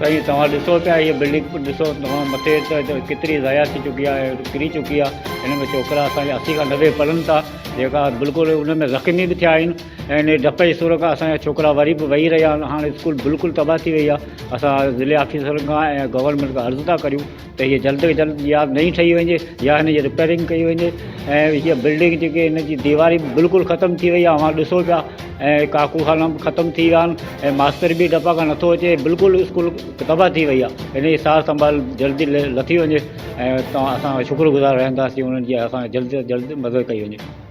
سائين توهان ڏسو پيا هيء بلڊنگ ڏسو توهان مٿي ته ڪيتري ضايع ٿي چڪي آهي ڪري چڪي آهي هن ۾ ڇوڪرا اسان جا اسي کان نوي پڙهن ٿا جيڪا بلڪل ان ۾ زخمي به ٿيا آهن ۽ ان ڊپ جي سور کان اسان جا ڇوڪرا وري به وهي رهيا آهن هاڻ اسڪول بلڪل تباهه ٿي وئي آهي اسان ضلعي آفيسرن کان ۽ گورنمينٽ کان عرض ٿا ڪريون ته هيء جلد کان جلد يا نئين ٺهي وڃي يا هن جي رپيئرنگ ڪئي وڃي ۽ هيء بلڊنگ جيڪي هن جي ديواري به بلڪل ختم ٿي وئي آهي اوهان ڏسو پيا ۽ ڪاڪو خانا به ختم ٿي ويا آهن ۽ ماستر به ڊپا کان نٿو اچي بلڪل اسڪول تباهه ٿي وئي آهي هن جي سار سنڀال جلدي لٿي وڃي ۽ توهان اسان شڪر گذار رهنداسين انهن جي اسان جي جلد کان جلد مدد ڪئي وڃي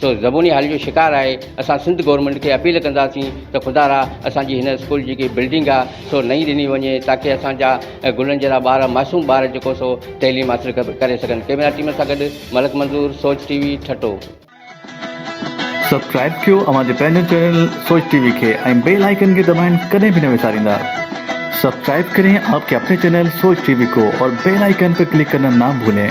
سو زبوني حالي جو شڪار آهي اسان سنڌ گورنمينٽ کي اپيل ڪنداسين ته خدارا اسان جي هن اسڪول جي جيڪي بلڊنگ آهي سو نئين ڏني وڃي تاڪي اسان جا گلن جهڙا ٻار معصوم ٻار جيڪو سو تعليم حاصل ڪري سگهن ڪيمرا ٽيم سان گڏ ملڪ منظور Soch T V Thatta. Subscribe ڪيو اوهان جي پنهنجو چينل سوچ ٽي وي کي ۽ بيل آئيڪن کي دٻائڻ ڪڏهن به نه وساريندا سبسڪرائب ڪرين آپ ڪي اپني چينل سوچ ٽي وي ڪو اور بيل آئيڪن پي ڪلڪ ڪرنا نا ڀولين.